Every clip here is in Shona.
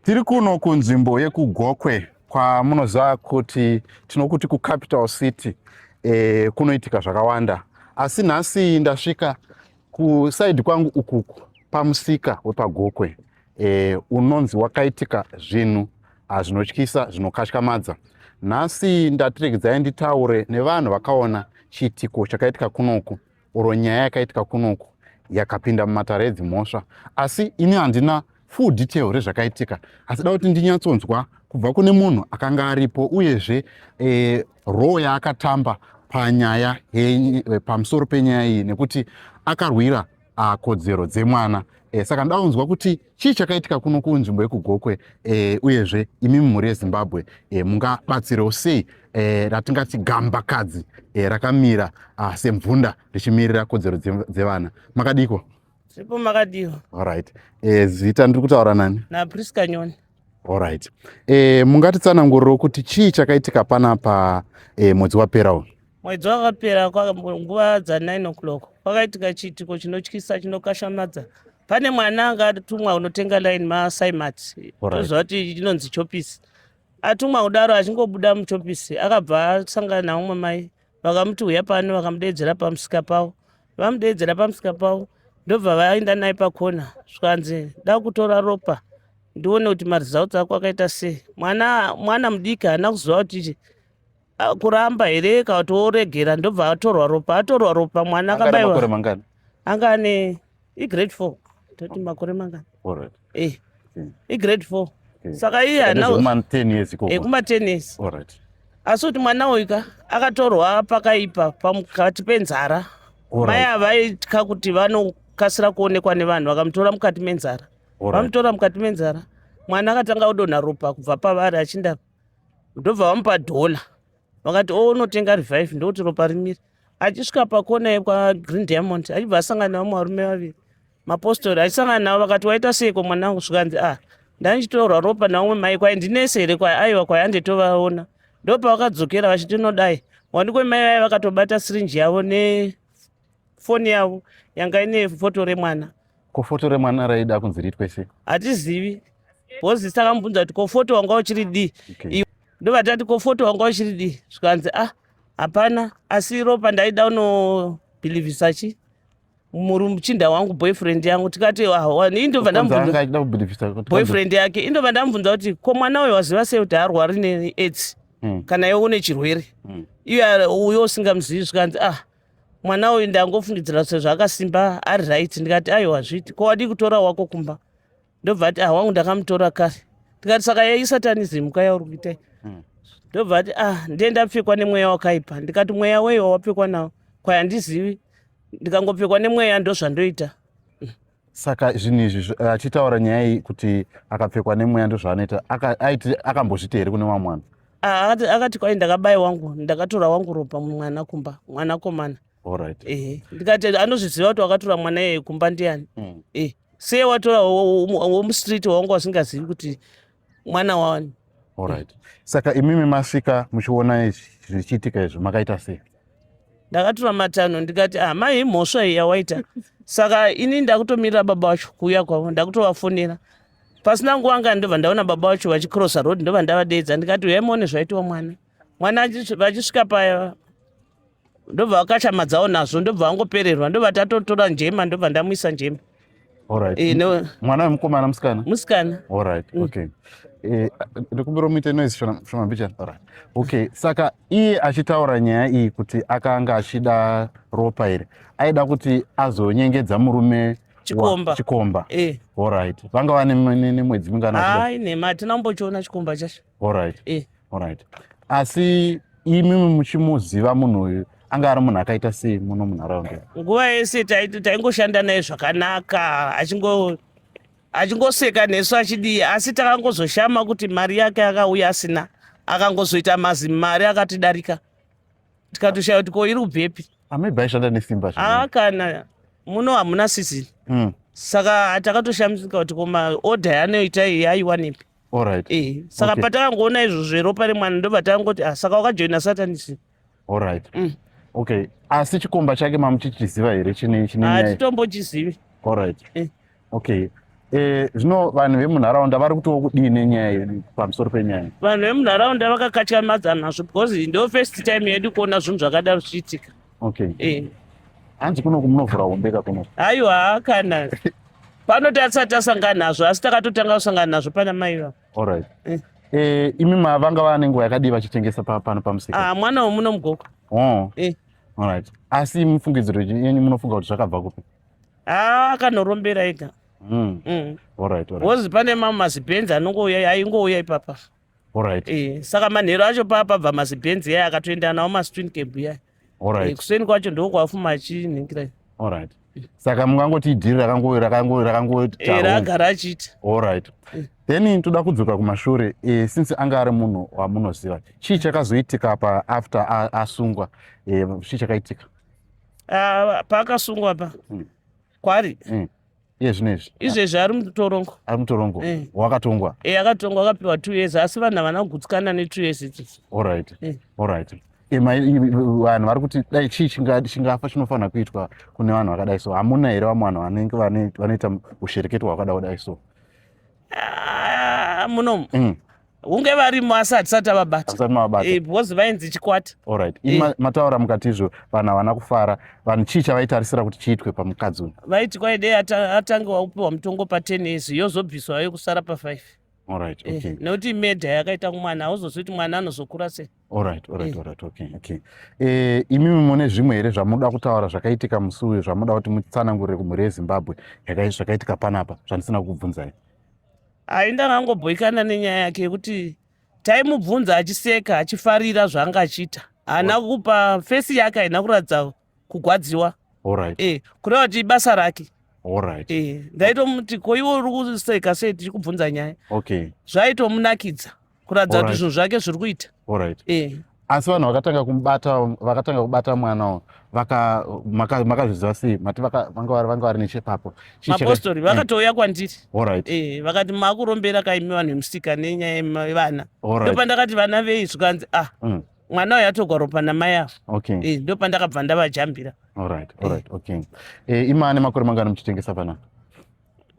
Tiri kuno kunzvimbo yekuGokwe kwamunoziva kuti tinokuti kucapital city e, kunoitika zvakawanda asi nhasi ndasvika kusaidi kwangu ukuku pamusika wepagokwe e, unonzi wakaitika zvinhu zvinotyisa zvinokatyamadza nhasi ndatiregedzai nditaure nevanhu vakaona chiitiko chakaitika kunoku or nyaya yakaitika kunoku yakapinda mumatare edzimhosva asi ini handina full detail rezvakaitika asi da kuti ndinyatsonzwa kubva kune munhu akanga aripo uyezve e, eh, roo yaakatamba panyaya eh, pamusoro penyaya iyi nekuti akarwira ah, kodzero dzemwana e, saka ndaunzwa kuti chii chakaitika kuno kunzvimbo yekugokwe e, uyezve imi mumhuri yezimbabwe e, mungabatsirewo sei e, ratingati gambakadzi e, rakamira ah, semvunda richimirira kodzero dzevana makadiko zvipo makadiwa allright e, zita ndiri kutaura nani naprisca nyoni allright e, mungatitsananguriro kuti chii chakaitika panapa e, mwedzi wapera uyu Mwedzi wakapera nguva dza9 o'clock kwakaitika chiitiko chinotyisa chinokashamadza pane mwana anga atumwa unotenga line masaimat toziva kuti chinonzi chopisi atumwa kudaro achingobuda muchopisi akabva asangana naumwe mai vakamuti huya pano vakamudeedzera pamusika pavo vamudeedzera pamusika pavo ndobva vaenda naye pakona zvikanzi da kutora ropa ndione kuti maresults ako akaita sei mwana mwana mudiki haana kuziva kuti Ah, kuramba here ka kuti woregera ndobva atorwa ropa atorwa ropa mwana Anga ane makore akabaiwa mangani? anga ane igrade four toti makore mangani Alright. Eh, Mm. igrade four Okay. saka iye Ane ana zvekuma 10 years ikoko. ekuma tennis Alright. asi kuti mwana uyu ka akatorwa pakaipa pakati penzara mai Alright. ava vaitya kuti vanokasira kuonekwa nevanhu vakamutora mukati menzara Alright. vamutora mukati menzara mwana akatanga kudonha ropa kubva pavari achinda ndobva vamupa dhola vakati o unotenga revive ndokuti ropa rimiri achisvika pakona yekwagreen diamond achibva asangana vamwe varume vaviri mapostori achisangana navo vakati waita seiko mwana wangu zvikanzi a ah, ndandichitorwa ropa naumwe mai kwai ndinese here kwai aiwa kwai anditovaona ndopavakadzokera vachiti nodai wandikwe mai vaye vakatobata sirinji yavo ne foni yavo yanga ine foto remwana ko foto remwana raida kunzi riitwe sei hatizivi bhozi takamubvunza kuti ko foto wanga uchiri dii okay. ndovatati ko foto wanga uchiri dii zvikanzi a ah, hapana asi ropa ndaida unobhilivhisa chii muchinda wangu boyfriend yangu tikati hawani indobva ndamubvunzaboyfriend yake indobva ndamubvunza kuti ko mwana uyo waziva sei kuti haarwari neaids hmm. kana iwe une chirwere hmm. iye uyo usingamuzivi zvikanzi ah mwana uyu ndangofungidzira sezvo akasimba ari right ndikati aiwa hazviti ko wadii kutora wako kumba ndobva ati ah wangu ndakamutora kare ndikati saka yaisatanism ka yauri kuitai hmm. ndobva ati ah ndiye ndapfekwa nemweya wakaipa ndikati mweya wei wawapfekwa nawo kwayandizivi ndikangopfekwa nemweya ndozvandoita saka zvinhu izvi eh, achitaura nyaya iyi kuti akapfekwa nemweya ndozvaanoita aiti akambozvita here kune vamwe mwana ah, akati kwai ndakabaye wangu ndakatora wangu ropa mwana kumba mwana komana orit ehe ndikati anozviziva kuti wakatora mwana yeye kumba ndiani mm. e eh, seye watora womustreet wawanga wasingazivi kuti mwana wani Alright. Saka imimi masvika muchiona izvi zvichiitika izvi makaita sei? ndakatura matanho ndikati ah mai imhosva iyi yawaita saka ini ndakutomirira baba wacho kuuya kwavo ndakutovafonera pasina nguva ngani ndobva ndaona baba wacho vachicrossa road ndobva ndavadeedza ndikati uyai muone zvaitiwa mwana mwana achi- vachisvika paya ndobva vakashamadzawo nazvo ndobva vangopererwa ndobva tatotora njema ndobva ndamuisa njema Alright. Eh, no. Mwana wemukomana musikana? Musikana. Alright. Mm. Okay. Eh, ndikumbira muite noise shona shona bicha. Alright. Okay. Saka iye achitaura nyaya iyi kuti akanga achida ropa iri. Aida kuti azonyengedza murume chikomba. Chikomba. Eh. Alright. Vanga vane mwedzi mingana? Hayi nema hatina kumbochiona chikomba chacho. Alright. Eh. Alright. Asi imi muchimuziva munhu uyu anga ari munhu akaita sei muno munharaunda? Nguva yese taingoshanda naye zvakanaka achingo achingoseka nesu achidii asi takangozoshama kuti mari yake akauya asina akangozoita mazimari akatidarika tikatoshaya kuti ko iri kubvepi amibva aishanda nesimba aa ah, kana muno hamuna sizini mm. saka takatoshamisika kuti ko maodha yanoita iyi aiwanepi Alright. Eh, saka Okay. patakangoona izvo zveropa remwana ndobva takangoti ah, saka wakajoina satanisi Alright. Mm. Okay. Asi chikomba chake mamuchichiziva here chine chine nyaya? hatitombochizivi Alright. Eh. Okay. Eh, zvino vanhu vemunharaunda vari kutiwo kudii nenyaya yedu pamusoro penyaya? vanhu vemunharaunda vakakatya mazano nazvo because ndo first time yedu kuona zvinhu zvakadaro zvichiitika okay eh hanzi kuno kunovhura hombe ka kuno aiwa kana pano tasati tasangana nazvo asi takatotanga kusangana nazvo pana mai va all right eh. Eh, imi mavanga vane nguva yakadii vachitengesa pano pamusika ah, mwana wemuno mugoko oh. eh. all right asi mufungidziro yenyu munofunga kuti zvakabva kupi ah, akanorombera ega mm. mm. all right, all right. wozi pane mamwe mazibhenzi anongouya aingouya ipapa Alright. Eh, saka manhero acho paa pabva mazibhenzi yaya akatoenda nawo mastwin cab yaya. Alright. Eh, kuseni kwacho ndiko kwafuma achinhingira. Alright. Saka mungangoti idhiri rakango rakango rakango Eh, ragara achiita. Alright. Then toda kudzoka kumashure eh, since anga ari munhu wamunoziva. Chii chakazoitika pa after a- asungwa? Eh, chii chakaitika? Ah, paakasungwa pa. Mm. Kwari. Mm. iye zvino izvi izvezvi ari mutorongo ari mutorongo eh. wakatongwa e eh, akatongwa akapiwa two years asi vanhu havana kugutsikana netwo years idzidzi allright eh. allright vanhu vari kuti dai chii chingafa chinofanira kuitwa kune vanhu vakadai so hamuna here vamwe vanhu vanenge vanoita ushereketo hwakada kudai so ah, munomu mm. hunge varimo asi hatisati avabata because eh, vainzi chikwata orit eh. mataura mukati izvo vanhu havana kufara vanhu chii chavaitarisira kuti chiitwe pamukadzi uyu vaiti kwaidei atange waupiwa mutongo paten izvi yozobviswa vayo kusara pafive orit eh, okay nekuti medha yakaita kumwana hauzozi kuti mwana anozokura sei orit orit orit okay okay imimi mune zvimwe here zvamunoda kutaura zvakaitika musi uyu zvamunoda kuti mutsanangurire kumhuri yezimbabwe zvakaitika panapa zvandisina kukubvunzai Hai ndakangobhoikana nenyaya yake yekuti taimubvunza achiseka achifarira zvaanga achiita haana kupa fesi yake haina kuratidza kugwadziwa right. e, kureva kuti ibasa rake right. e, ndaitomuti ko iwe uri kuseka sei tichikubvunza nyaya okay. zvaitomunakidza kuratidza kuti zvinhu zvake zviri kuita orit eh. asi vanhu vakatanga kumubata vakatanga kubata mwana makazviziva sei mati vanga vari nechepapo mapostori eh. vakatouya kwandiri orit eh, vakati makurombera kaimi vanhu vemusika nenyaya yevana ndopandakati vana vei zvikanzi ah mm. mwana uyo atogwa ropa namai avo okay. ndopandakabva ndavajambira orit orit okay imane makore mangani muchitengesa panapa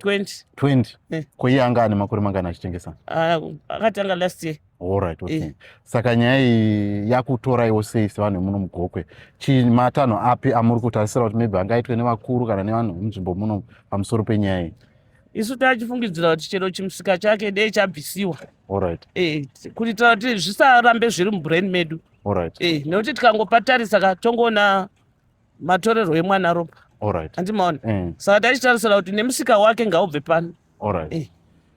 20 20 eh. ko iye anga ane makore mangani achitengesa ah, akatanga last year allright okay. eh. saka nyaya iyi yakutoraiwo sei sevanhu vemuno mugokwe chii matanho api amuri kutarisira kuti maybe angaitwe nevakuru kana nevanhu vemunzvimbo muno pamusoro penyaya iyi isu tachifungidzira kuti chero chimusika chake dei chabvisiwa allright eh, kuitira kuti zvisarambe zviri mubrain medu allright eh, nekuti tikangopatarisa ka tongoona matorerwo emwana ropa Alright. handimaona Eh, saka taichitarisira kuti nemusika wake ngaubve pano alright. Eh.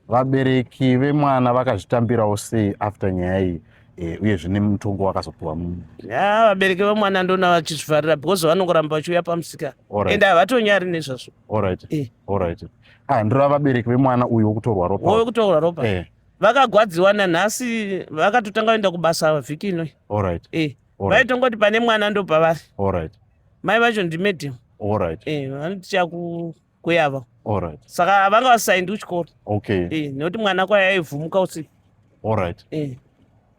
vabereki vemwana vakazvitambirawo sei after nyaya iyi eh, uye zvine mutongo wakazopiwa mu- ya vabereki vemwana ndona vachizvivharira because vanongoramba vachiuya pamusika Alright. ende havatonyari nezvazvo Alright. Eh. Alright. Ah, ndirava vabereki vemwana uyu wokutorwa ropa wove kutorwa ropa Eh, vakagwadziwa nanhasi vakatotanga vaenda kubasa vhiki inoi alright. eh. vaitongoti pane mwana ndopavafi right. mai vacho ndimedium right. e, eh, vanoti chakukuyava right. saka avanga vasaindi kuchikoro okay. e, nekuti mwana kwaye aivhumuka usiku right. e. Eh.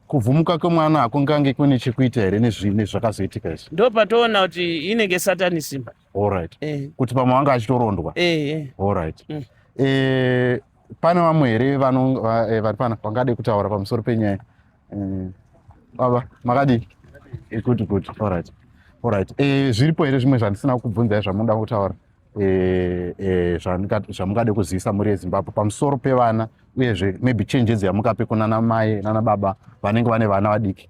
kuvhumuka kwemwana hakungange kune chekuita here nezvakazoitika izvi ndo patoona kuti inenge satanism Alright. Eh. Kuti pamwe wanga achitorondwa. Eh, eh. Alright. Mm. Eh, pane vamwe here eh, vari pana vangade kutaura pamusoro penyaya eh, baba makadii eh, good good alright alright zviripo here zvimwe zvandisina kubvunzai zvamunoda kutaura zvamungade kuzivisa mhuri yezimbabwe pamusoro pevana uyezve maybe chenjedzo yamukape kunana mai nana baba vanenge vane vana vadiki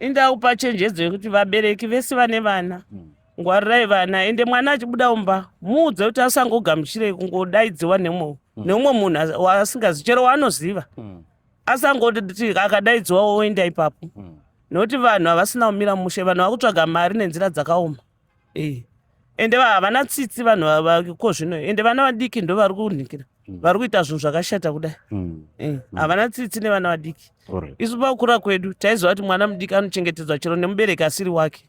indakupa chenjedzo yekuti vabereki vese vane vana mm. ngwarirai vana ende mwana achibuda umba muudze kuti asangogamuchirei kungodaidziwa nemwe mm. neumwe munhu waasingazi chero waanoziva mm. asangoti akadaidziwa woenda ipapo mm. nokuti vanhu havasina kumira mushe vanhu vakutsvaga mari nenzira dzakaoma e. ende havana tsitsi vanhu vako zvino ende vana vadiki ndo vari kunhikira mm. vari kuita zvinhu zvakashata kudai mm. Eh, mm. havana mm. tsitsi nevana vadiki right. isu pakukura kwedu taiziva kuti mwana mudiki anochengetedzwa chero nemubereki asiri wake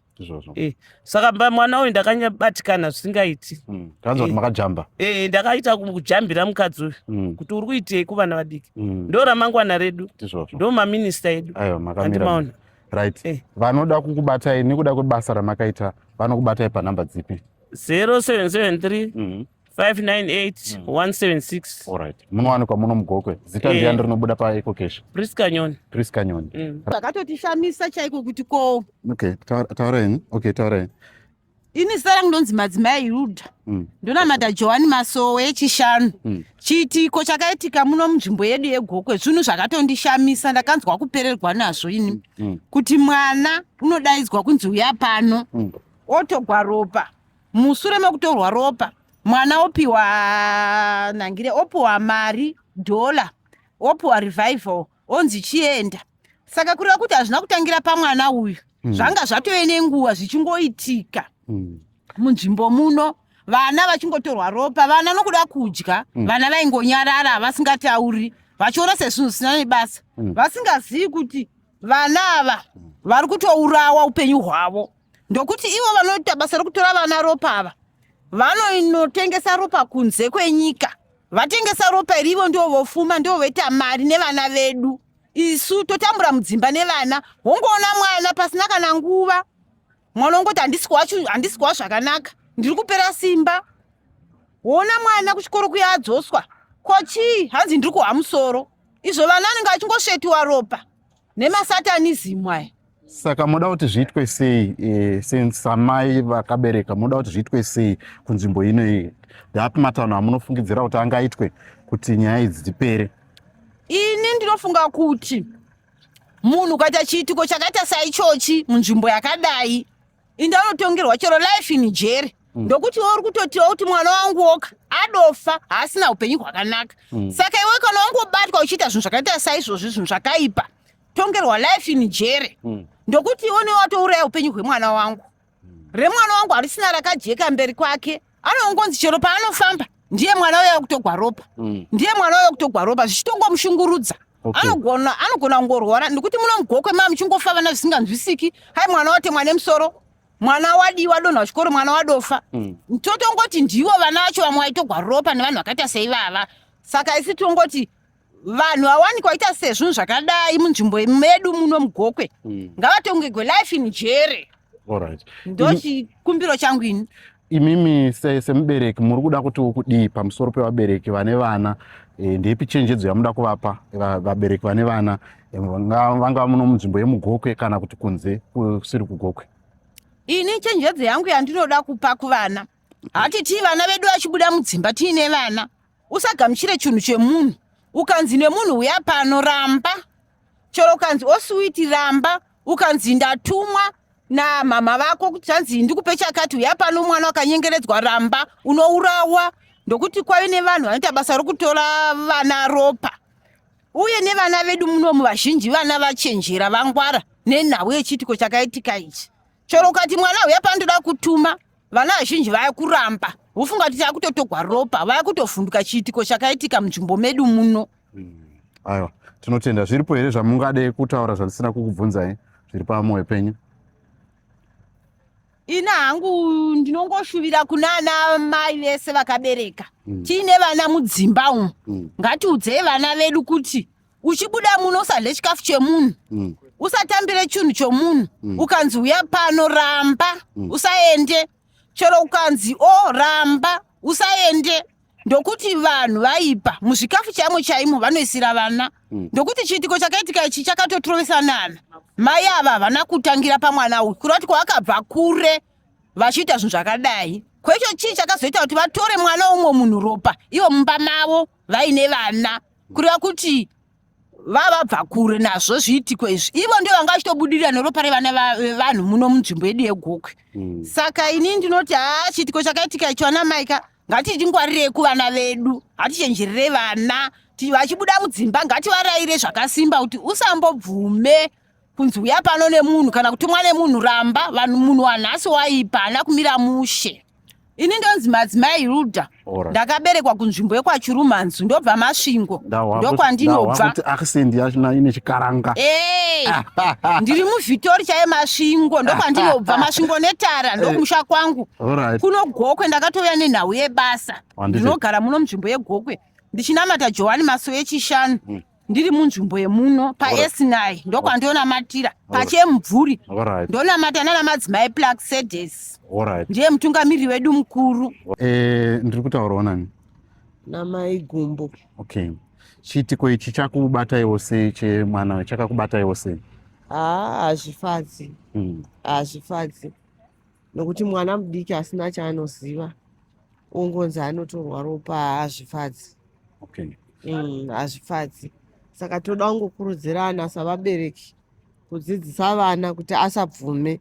eh, saka mba mwana uyu ndakanyabatikana zvisingaiti mm. eh, makajamba eh, ndakaita kujambira mukadzi uyu mm. kuti uri kuitei kuvana vadiki mm. ndo ramangwana redu ndo maminista edu andimaona right eh. vanoda kukubatai nekuda kwebasa ramakaita vanokubatai panhamba dzipi 0773 mm -hmm. 598 176 Alright. Munowanikwa muno mugokwe. Zita Eh. ndiyani rinobuda paEco Cash? Prisca Nyoni Chris Kanyoni. mm. vakatotishamisa chaiko kuti ko Okay, taura- taura henyu. Okay, taura henyu. ini zita rangu ndonzi madzimai ruda Mm. ndonamata johani masowe yechishanu Mm. chiitiko chakaitika muno munzvimbo yedu yegokwe zvinhu zvakatondishamisa ndakanzwa kupererwa nazvo ini Mm. kuti mwana unodaidzwa kunzi uya pano Mm. otogwa ropa musure mekutorwa ropa mwana opiwa nangire opiwa mari dollar opiwa revival onzi chienda saka kureva kuti hazvina kutangira pamwana uyu mm. zvanga zvatove nenguva zvichingoitika mm. munzvimbo muno vana vachingotorwa ropa vana nokuda kudya mm. vana vaingonyarara havasingatauri vachiona sezvinhu zvisina nebasa mm. vasingazivi kuti vana ava mm. vari kutourawa upenyu hwavo ndokuti ivo vanoita basa rokutora vana ropa ava vanoinotengesa ropa kunze kwenyika vatengesa ropa iri ivo ndivo vofuma ndivo voita mari nevana vedu isu totambura mudzimba nevana wongoona mwana pasina kana nguva mwana wongoti handisikuwa zvakanaka ndiri kupera simba woona mwana kuchikoro kuya adzoswa ko chii hanzi ndiri kuhwa musoro izvo vana anenge achingosvetiwa ropa nemasatanizimu aya saka moda kuti zviitwe sei eh, since amai vakabereka moda kuti zviitwe sei kunzvimbo ino iyi ndapi matanho amunofungidzira kuti angaitwe kuti nyaya idzi dzipere ini ndinofunga kuti munhu ukaita chiitiko chakaita saichochi munzvimbo yakadai inda unotongerwa chero life in jeri mm. ndokuti uri kutotiwa kuti mwana wangu woka adofa haasina upenyu hwakanaka mm. saka iwe kana wangobatwa uchiita zvinhu zvakaita saizvozvi zvinhu zvakaipa tongerwa life in jeri mm. ndokuti iwe newatouraya upenyu hwemwana wangu remwana wangu harisina rakajeka mberi kwake anongonzi chero paanofamba ndiye mwana uya kutogwa ropa mm. ndiye mwana uya kutogwa ropa zvichitongomushungurudza okay. anogona anogona kungorwara nekuti munomugokwe ma muchingofa vana zvisinganzwisiki hai mwana watemwa nemusoro mwana wadiwa donha wachikoro mwana wadofa mm. totongoti ndivo vana vacho vamwe vaitogwa ropa nevanhu vakaita seivava saka isi tongoti vanhu vawanikwa vaita sezvinhu zvakadai munzvimbo medu muno mugokwe mm. ngavatongegwe life in jere right. ndo chikumbiro changu ini imimi semubereki se muri kuda kuti ukudii pamusoro pevabereki vane vana e, ndeipi chenjedzo yamuda kuvapa vabereki vane vana e, vangava muno munzvimbo yemugokwe kana kuti kunze kusiri kugokwe ini chenjedzo yangu yandinoda kupa kuvana hatitii vana vedu vachibuda mudzimba tiine vana usagamuchire chinhu chemunhu ukanzi nemunhu uya pano ramba chero ukanzi osuwiti ramba ukanzi ndatumwa namama vako kuti zvanzi ndikupe chakati uya pano mwana wakanyengeredzwa ramba unourawa ndokuti kwave nevanhu vanoita basa rokutora vana ropa uye nevana vedu munomu vazhinji vana vachenjera vangwara nenhau yechiitiko chakaitika ichi chero ukati mwana uya pandoda kutuma vana vazhinji vaya kuramba vofunga kuti akutotogwa ropa vaya kutovhunduka chiitiko chakaitika munzvimbo medu muno hmm. aiwa tinotenda zviripo here zvamungade kutaura zvandisina kukubvunzai zviri pamoyo penyu ina hangu ndinongoshuvira kunana mai vese vakabereka hmm. tiine vana mudzimba umu hmm. ngatiudzei vana vedu kuti uchibuda muno usadle chikafu chemunhu mm. usatambire chinhu chomunhu mm. ukanzi uya pano ramba mm. usaende chero ukanzi o oh, ramba usaende ndokuti vanhu vaipa muzvikafu chaimo chaimo vanoisira vana mm. ndokuti chiitiko chakaitika ichi chakatotrovesanana mai ava havana kutangira pamwana uyu kureva kuti kwavakabva kure vachiita zvinhu zvakadai kwecho chii chakazoita kuti vatore mwana womwe munhu ropa ivo mumba mavo vaine vana kureva kuti vavabva kure nazvo zviitiko izvi ivo ndio vanga vachitobudirira neropa revana vevanhu muno munzvimbo yedu yegokwe mm. saka ini ndinoti haa chiitiko chakaitika icho ana maika ngatichingwarirei kuvana vedu hatichenjerere vana vachibuda mudzimba ngativaraire zvakasimba kuti usambobvume kunzi uya pano nemunhu kana kutumwa nemunhu ramba vanhu munhu wanhasi waipa haana kumira mushe ini ndonzi madzimai ruda Alright. ndakaberekwa kunzvimbo yekwachirumanzu ndobva masvingo ndokwandinobva accent yacho na ine chikaranga Eh, ndiri muvhitori chaye masvingo ndokwandinobva masvingo netara ndokumusha kwangu Alright. kuno gokwe ndakatouya nenhau yebasa Wanditi- ndinogara muno munzvimbo yegokwe ndichinamata johani masowe echishanu ndiri munzvimbo yemuno paesnai ndokwandionamatira pachemubvuri ndonamata nana madzimai plak sedes ndiye mutungamiriri wedu mukuru eh, ndiri kutaurawo nani namai gumbo okay chiitiko ichi chakubataiwo sei chemwana chakakubataiwo sei haa hazvifadzi hmm. hazvifadzi nokuti mwana mudiki asina chaanoziva ongonzi anotorwa ropa hazvifadzi okay. mm, hazvifadzi saka toda kungokurudzirana savabereki kudzidzisa vana kuti asabvume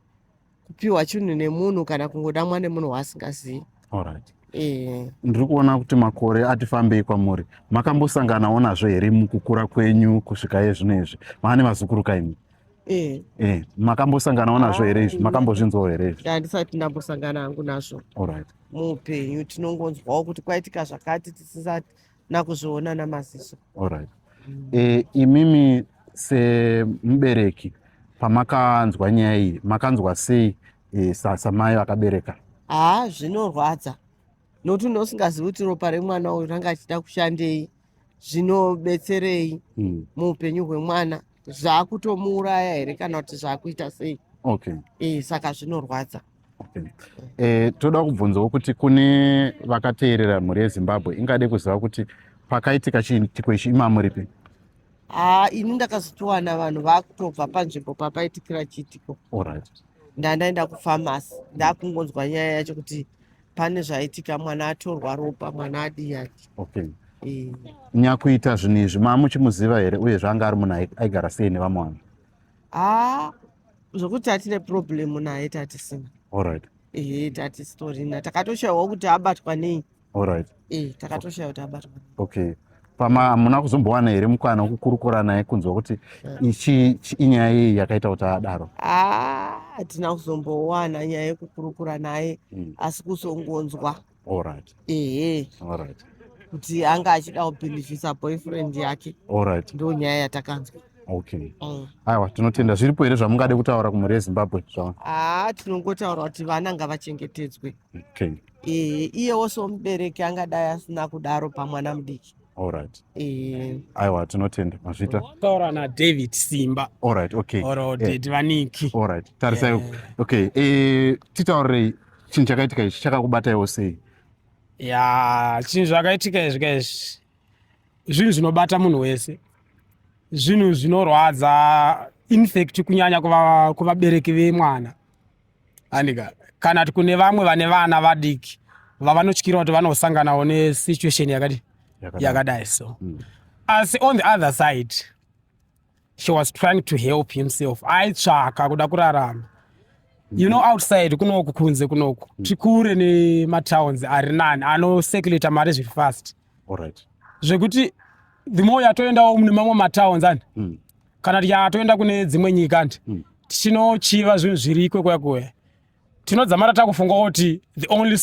kupiwa chinhu nemunhu kana kungodamwa nemunhu waasingazivi right. Eh. ndiri kuona kuti makore ati fambei kwamuri makambosanganawo nazvo here mukukura kwenyu kusvika ye zvino izvi maane vazukuru kaimi Eh. Eh, makambosanganawo nazvo here izvi? Makambozvinzwawo here izvi? Handisati ndambosangana hangu nazvo. All right. Muupenyu tinongonzwawo kuti kwaitika zvakati tisisati nakuzviona namaziso. All right. Mm. Eh, imimi semubereki pamakanzwa nyaya iyi makanzwa sei eh, samai vakabereka? Haa zvinorwadza nokuti unosingazivi kuti ropa remwana uyu ranga achida kushandei. zvinobetserei mm. muupenyu hwemwana zvakutomuuraya here kana kuti zvakuita sei okay. e, saka zvinorwadza okay. e, toda kubvunzawo kuti kune vakateerera mhuri yezimbabwe ingade kuziva kuti pakaitika chiitiko ichi imamo ripi haa ini ndakazotiwana vanhu vakutobva panzvimbo papaitikira chiitiko right. ndandaenda kufamasi ndakungonzwa nyaya yacho kuti pane zvaitika mwana atorwa ropa mwana adiyani okay eh. nyakuita zvinhu izvi maamuchimuziva here uye zvaanga ari munhu aigara sei nevamwe vanhu haa zvokuti atine problemu naye tatisina allright ehe tatisitorina takatoshaiwa kuti abatwa nei allright eh takatoshaya kuti abatwa okay pama hamuna kuzombowana here mukwana wekukurukura naye kunzwa kuti ichi inyaya yei yakaita kuti adaro ah, hatina kuzombowana nyaya yekukurukura naye hmm. asi kuzongonzwa allright ehe allright kuti anga achida kubhilivhisa boyfriend yake allright ndo nyaya yatakanzwa okay mm. aiwa tinotenda zviripo here zvamungade kutaura kumhuri yezimbabwe zvaa haa ah, tinongotaura kuti vana ngavachengetedzwe okay Eh, iyewo somubereki angadai asina kudaro pamwana mudiki Alright. Eh, Aiwa tinotenda mazvita. taura nadavid simba Alright, okay. or Eh. ded vaniki Alright. Tarisai. Eh. Okay. Eh titaurirei chinhu chakaitika ichi chakakubataiwo sei? ya chinhu zvakaitika izvi ka izvi zvinhu zvinobata munhu wese zvinhu zvinorwadza infact kunyanya kuva- kuvabereki vemwana andika kana kune vamwe vane vana vadiki vavanotyira kuti vanosanganawo nesituation yakati yakadai so mm. asi on the other side she was trying to help himself aitsvaka kuda kurarama you know outside kunoku kunze kunoku mm. tikure nematowns ari nani anocirculata mari zviri fast zvekuti the more yatoendawo mune mamwe matowns ani mm. kana tikatoenda kune dzimwe nyika handi mm. tichinochiva zvinhu zviri kwekuya kuya tinodzamara takufunga kuti the only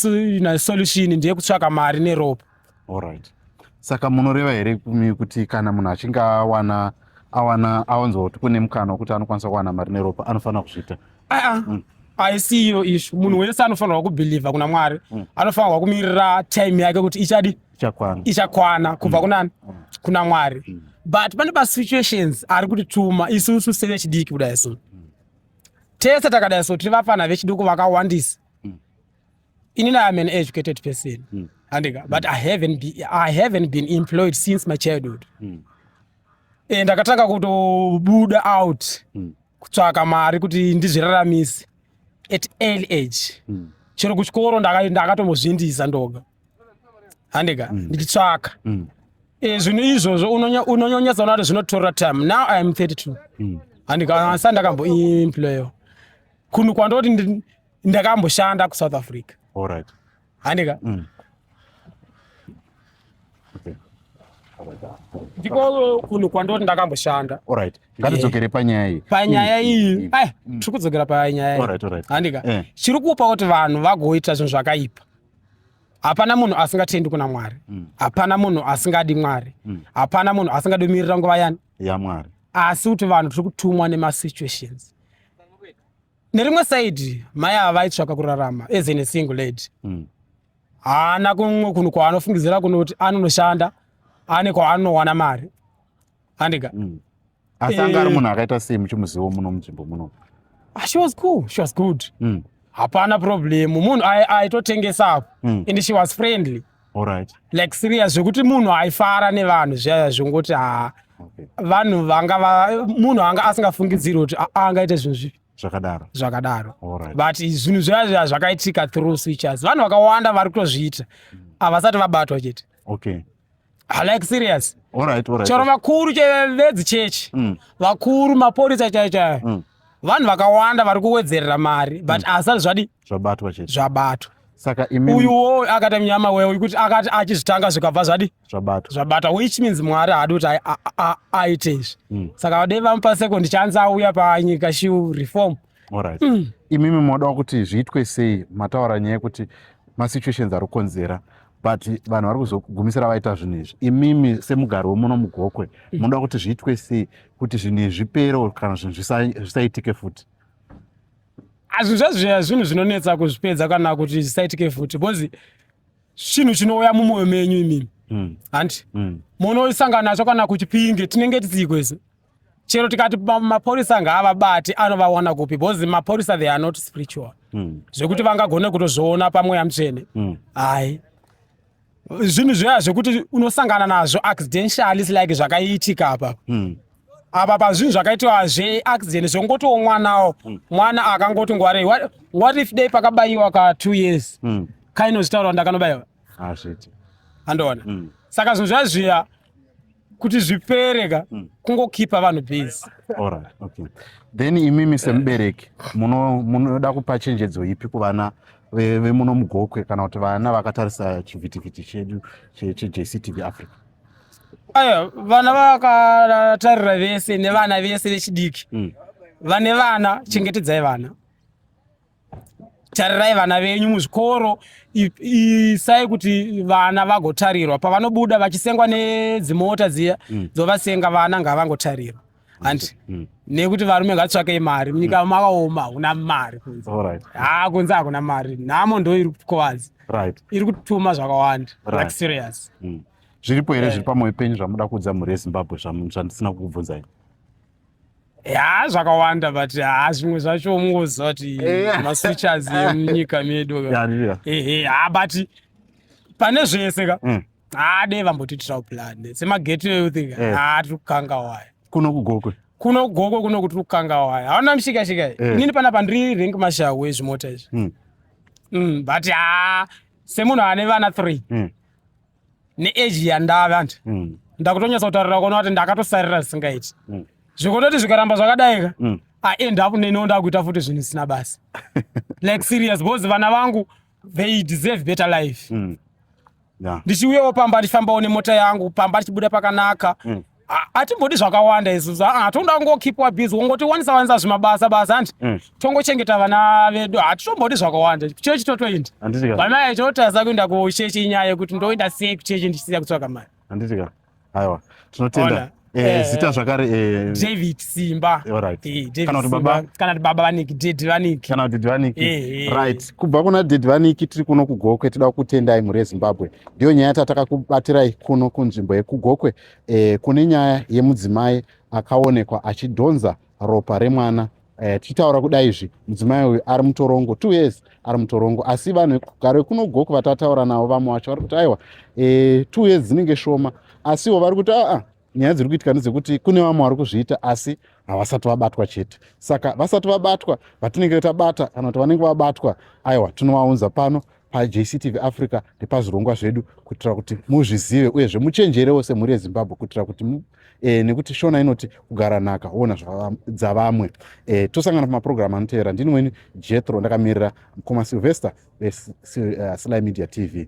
solution ndeye kutsvaka mari neropa allright saka munoreva here kumi kuti kana munhu achinge awana awana awanzwa kuti kune mukana wekuti anokwanisa kuwana mari neropa anofanira kuzviita aa ah, ah. mm. haisi iyo ishu munhu wese anofanirwa kubhilivha kuna mwari mm. anofanirwa kumirira time yake kuti ichadi ichakwana ichakwana kubva mm. kunani mm. kuna mwari mm. but pane pasituations ari kutituma isusu sevechidiki kudai so tese takadai so tiri vafana vechiduku vakawandisa inini iam an educated person mm. andika but I haven't, be, i haven't been employed since my childhood mm. and ndakatanga kutobuda out mm. kutsvaka mari kuti ndizviraramise at early age mm. chero kuchikoro ndakatombozvindisa ndoga handika mm. ndichitsvaka mm. e, zvinhu izvozvo unonyonyesa unoati zvinotora time now i am 32 mm. handika asi andakamboimployo kunhu kwandoti ndakamboshanda kusouth africa right. handika mm. ndiko kunhu kwandoti ndakamboshanda orit ngatidzokere eh. panyaya iyi panyaya mm. iyi mm. ai mm. tiri kudzokera panyaya iyi handika eh. chiri kupa kuti vanhu vagoita zvinhu zvakaipa hapana munhu asingatendi kuna mwari mm. hapana munhu asingadi mwari mm. hapana munhu asingadi kumirira nguva yani yamwari asi kuti vanhu tiri kutumwa nemasituations nerimwe saidi mai ava vaitsvaka kurarama as in a single lady mm. haana kumwe kunhu kwaanofungidzira kunoti anonoshanda ane kwaanowana mari handika mm. asi anga ari eh. munhu akaita sei muchimuzivo muno munzvimbo muno ah, she was cool she was good mm. hapana problem munhu aitotengesapo mm. and she was friendly Alright. like serious zvekuti munhu aifara nevanhu zviyaya zvongoti haa okay. vanhu vanga va, munhu anga asingafungidziri kuti angaite zvinhu zvipi zvakadaro zvakadaro right. but zvinhu zviya zviya zvakaitika through switchers vanhu vakawanda vari kutozviita havasati vabatwa chete okay. I like serious. All right, all right. Chero vakuru chevezi church. Mm. Vakuru maporisa chai chai. Mm. Vanhu vakawanda vari kuwedzerera mari but mm. asal zvadi zvabatwa chete. Zvabatwa. Saka imi uyu wo akati mnyama wewe ukuti akati achizvitanga zvikabva zvadi zvabatwa. Zvabatwa which means mwari haadi kuti aite izvi. Mm. Saka vadei vamupa second chance auya panyika shiu reform. Alright. Mm. Imimi modawo kuti zviitwe sei mataura nyaya yekuti masituations ari kukonzera but vanhu vari kuzogumisira vaita zvinhu izvi imimi semugari wemuno mugokwe mm. munoda kuti zviitwe sei kuti zvinhu izvi zvipere kana zvinhu zvisaitike futi azvinhu zvazviya zvinhu zvinonetsa kuzvipedza kana kuti zvisaitike futi because chinhu chinouya mumwoyo menyu imimi mm. handi mm. munoisangana nacho kana kuchipinge tinenge tisiikwese chero tikati mapurisa ngaavabati anovawana kupi because mapurisa they are not spiritual mm. zvekuti vangagone kutozviona pamweya mutsvene mm. hai zvinhu zviya zvekuti unosangana nazvo accidentialis like zvakaitika apa mm. apa pazvinhu zvakaitiwa zveaccident zvongotiwo mwanawo mm. mwana akangoti ngwarei what, what if day pakabayiwa ka two years mm. kainozvitaura ndakanobayiwa handoona mm. saka zvinhu zviya zviya kuti zvipere ka mm. kungokipa vanhu base alright okay then imimi semubereki munoda kupa chenjedzo ipi kuvana vemuno mugokwe kana kuti vana vakatarisa chivhitivhiti chedu chejctv africa aya vana vakatarira vese nevana vese vechidiki mm. vane vana chengetedzai vana tarirai vana venyu muzvikoro isai kuti vana vagotarirwa pavanobuda vachisengwa nedzimota dziya mm. dzovasenga vana ngavangotarirwa handi mm. mm. nekuti varume ngatsvakei mari munyika mm. makaoma hakuna mari kunze ha kunze hakuna mari nhamo ndo iri kukovazi iri kutuma zvakawanda like serious zviripo here eh. zviri pamwoyo penyu zvamuda kuudza mhuri yezimbabwe zvandisina kukubvunzai ya zvakawanda but ha zvimwe zvacho mungoziva kuti eh. maswitchers emunyika medu ehe ha but pane zvese ka mm. ha dei vambotiitirawo plan semagateway you think eh. ha tiri kukanga waya kuno kugokwe kuno kugokwe kuno kuti kukanga waya hauna mushikashika eh. inini pana pandiri rank mashawe zvimota izvi mm. mm, but ha semunhu ane vana three neeji yandave andi mm. ndakutonyatsa kutaurira kuona kuti ndakatosarira zvisingaiti mm. zvikototi zvikaramba zvakadaika mm. aend up neniwo ndakuita futi zvinhu zvisina basa like serious because vana vangu they deserve better life mm. ndichiuyawo pamba ndichifambawo nemota yangu pamba ndichibuda pakanaka mm. hatimbodi zvakawanda izvozvo aa ah, toda kungokipwa busy wongoti wanisa wanisa zvimabasa basa hanti mm. tongochengeta vana vedu hatitombodi zvakawanda chechi totoinda vamai totadza kuinda kuchechi inyaya yekuti ndoinda sei kuchechi ndichisiya kutsvaka mari handitika aiwa tinotenda eh, eh, zita eh. zvakare david simba kana kuti baba vaniki ded vaniki kana kuti ded vaniki right kubva kuna ded vaniki tiri kuno kugokwe tida kutendai mhuri yezimbabwe ndiyo nyaya tatakakubatiraiy kuno kunzvimbo yekugokwe e, kune nyaya yemudzimai akaonekwa achidhonza ropa remwana e, tichitaura kuda izvi mudzimai uyu ari mutorongo two years ari mutorongo asi vanhu vekugaro kunogoku vatataura navo vamwe vacho vari kuti aiwa e, two years dzinenge shoma asiwo vari kuti aa nyaya dziri kuitika ndedzekuti kune vamwe vari kuzviita asi havasati vabatwa chete saka vasati vabatwa vatinenge tabata kana kuti vanenge vabatwa aiwa tinovaunza pano pajctv africa nepazvirongwa zvedu kuitira kuti muzvizive uyezve muchenjerewo semhuri yezimbabwe kuitira kuti e, nekuti shona inoti kugara nhaka woona dzavamwe e, tosangana pamapurogiramu anotevera ndini weni jetro ndakamirira mukoma silvester veslai eh, media tv